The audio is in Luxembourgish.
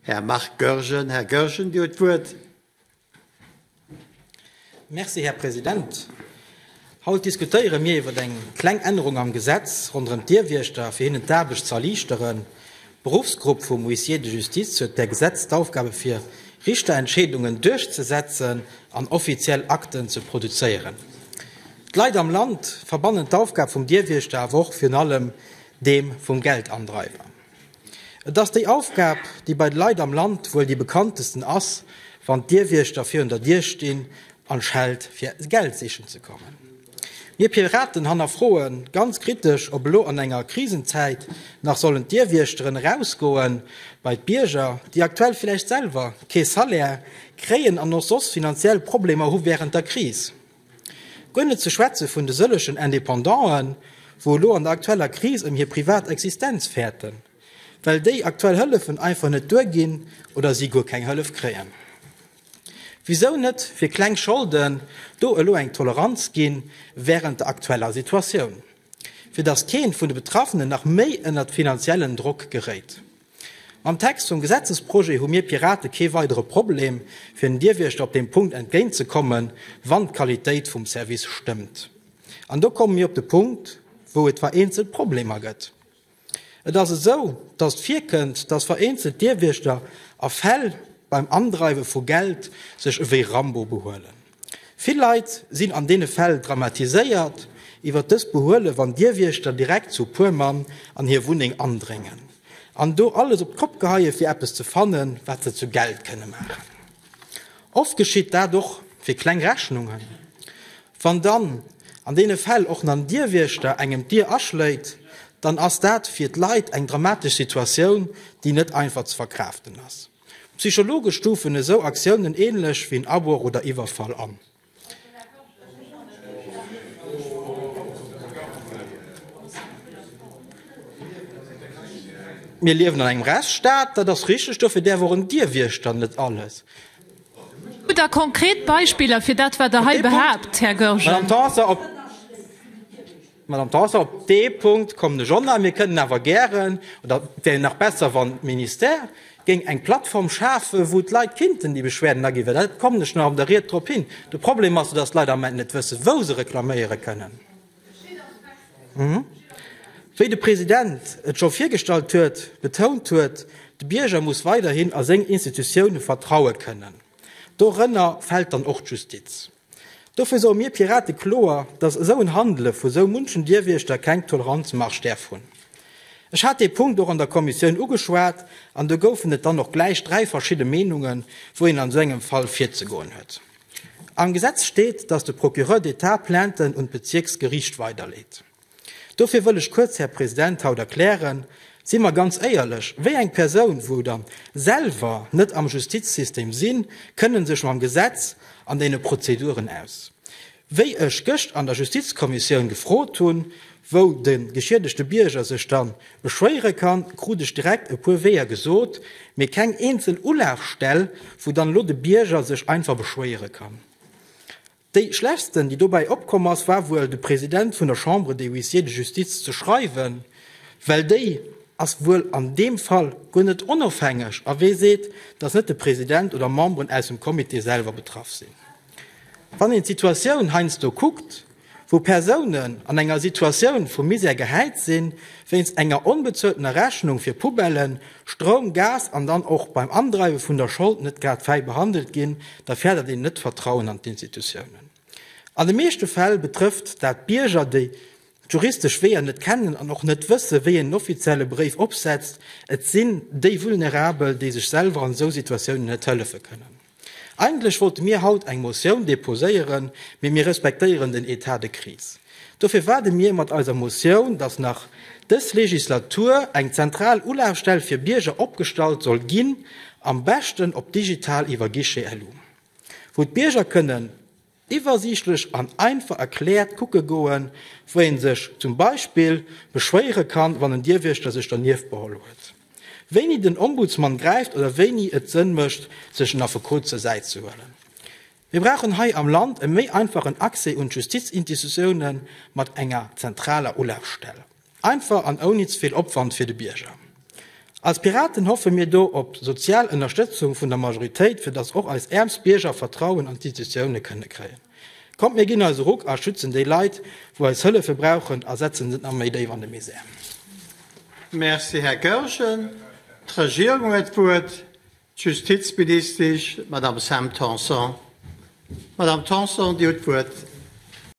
Här Marc Goergen. Här Goergen, Dir huet d'Wuert. Merci, Här President. Haut diskutéiere mir iwwer eng kleng Ännerung am Gesetz ronderëm d'Dierwiechter, fir hinnen d'Aarbecht ze erliichteren. D'Beruffsgrupp vum Huissier de justice huet per Gesetz d'Aufgabe fir Richterentscheedungen duerchzesetzen an offiziell Akten ze produzéieren. D'Leit am Land verbannen d'Aufgab vum Dierwiechter awer och virun allem deem vum Geldandreiwer. Et ass déi Aufgab, déi bei de Leit am Land wuel déi bekanntesten ass, wann d'Dierwiechter virun der Dier stinn an Scheld fir Geld sichen ze kommen. Mir Piraten hannerfroe ganz kritesch, ob elo an enger Krisenzäit nach sollen d'Dierwiechteren erausgoen bei d'Bierger, déi aktuell villäicht selwer kee Salaire kréien an och soss finanziell Problemer hu wärend der Kris. Guer net ze schwätze vun de sëllechen Indépendanten, wou elo an der aktueller Kris ëm hir privat Existenz fäerten, well déi aktuell Hëllefen einfach net duerginn oder si guer keng Hëllef kréien. Wisou net fir kleng Scholden do elo eng Toleranz ginn wärend der aktueller Situatioun, fir datt keen vun de Betraffenen nach méi ënnert finanziellen Drock geréit? Mam Text vum Gesetzesprojet hu mir Pirate kee weidere Problem, fir den Dierwächter op deem Punkt entgéint ze kommen, wann d'Qualitéit vum Service stëmmt. An do komme mir op de Punkt, wou et vereenzel Problemer gëtt. Et ass esou, dass et virkënnt, dass vereenzel Dierwächter a Fäll beim Andreiwe vu Geld sech ewéi Rambo behuelen. Vill Leit sinn an deene Fäll dramatiséiert iwwer dës Behuele wann Dierwiechter direkt zu e puer Mann an hir Wunneng andréngen an do alles op d'Kopp geheie fir eppes ze fanne wat se zu Geld kënne maachen. Oft geschitt dat och fir kleng Rechnungen. Wann dann an deene Fäll och nach en Dierwiechter engem d'Dier aschléit, dann ass dat fir d'Leit eng dramatesch Situatioun déi net einfach ze verkraaften ass. Psychologe stufen esou Aktiounen änlech wéi en Abroch oder Iwwerfall an. Mir liewen an engem Rechtsstaat, dat ass richteg, dofir däerf och en Dierwiechter net alles. Hu Der konkret Beispiller fir dat, wat Der hei behaapt, Här Goergen? Madame Tanson, op dee Punkt kommen ech och nach. Mir kënnen awer gären, oder et wär nach besser, wann d'Ministère géing eng Plattform schafen, wou d'Leit kinnten déi Beschwerden aginn, well dat, kommen ech nach an der Ried drop hin, de Problem ass jo, dass d'Leit am Moment net wëssen, wou se reklaméiere kënnen. Wéi de President et scho virgestallt huet, betount huet, de Bierger muss weiderhin a seng Institutioune vertraue kënnen. Dorënner fält dann och d'Justiz. Dofir soe mir Pirate kloer, datt esou en Handele vu sou munchen Dierwiechter keng Toleranzmarge däerf hunn. Ech hat dee Punkt och an der Kommissioun ugeschwat an do goufen et dann och gläich dräi verschidde Meenunge wou een an sou engem Fall virzegoen huet. Am Gesetz steet, datt de Procureur d'Etat Plainten un d'Bezierksgeriicht weiderleet. Dofir wëll ech kuerz, Här President, haut erklären, Si mer ganz éierlech, wéi eng Persoun, wou der selwer net am Justizsystem sinn, kënne sech mam Gesetz an deene Prozeduren aus? Wéi ech gëscht an der Justizkommissioun gefrot hunn, wou de geschiedegte Bierger sech dann beschwéiere kann, krut ech direkt e puer Weeër gesot, mee keng eenzel Ulafstell, wou dann elo de Bierger sech einfach beschwéiere kann. Déi schlechtsten, déi dobäi opkomm ass, war wuel de President vun der Chambre des Huissiers de Justice ze schreiwen, well déi ass wuel an deem Fall guer net onofhängeg, a wee seet, datt net de President oder Memberen aus dem Comité selwer betraff sinn? Wann een d'Situatioun heiansdo kuckt, wou Persounen an enger Situatioun vu Misär gehäit sinn, wéinst enger onbezueltener Rechnung fir Poubellen, Stroum, Gas an dann och beim Andreiwe vun der Schold net grad fäi behandelt ginn, da férdert een net d'Vertrauen an d'Institutiounen. An de meeschte Fäll betrëfft dat Bierger, déi d'juristesch Weeër net kennen an och net wësse wéi een en offizielle Bréif opsetzt. Et sinn déi Vulnerabel, déi sech selwer an esou Situatiounen net hëllefe kënnen. Eigentlech wollte mir haut eng Motioun deposéieren, mee mir respektéieren den Etat de crise. Dofir waarde mir mat eiser Motioun, dass nach dës Legislatur eng zentral Ulafstell fir Bierger opgestallt soll ginn, am beschten op digital iwwer Guichet Elu, wou d'Bierger kënnen, Iwwersiichtlech an einfach erkläert kucke goen, wou ee sech zum Beispill beschwéiere kann, wann en Dierwiechter sech dernieft beholl huet, wéini den Ombudsman gräift oder wéini et Sënn mécht, sech en Affekot zur Säit ze huelen. Mir brauchen hei am Land e méi einfachen Accès un d'Justizinstitutiounen mat enger zentraler Ulafstell. Einfach an ouni ze vill Opwand fir de Bierger. Als Piraten hoffe mir do op sozial Ënnerstëtzung vun der Majoritéit, fir datt och eis äermst Bierger Vertrauen an d'Institutioune kënne kréien. Kommt mir ginn eis e Ruck a schützen déi Leit, wou eis Hëllefe brauchen a setzen se nach méi déif an de Misär. Merci, Här Goergen. D'Regierung huet d'Wuert, d'Justizministesch, d'Madame Sam Tanson. Madame Tanson, Dir hutt d'Wuert.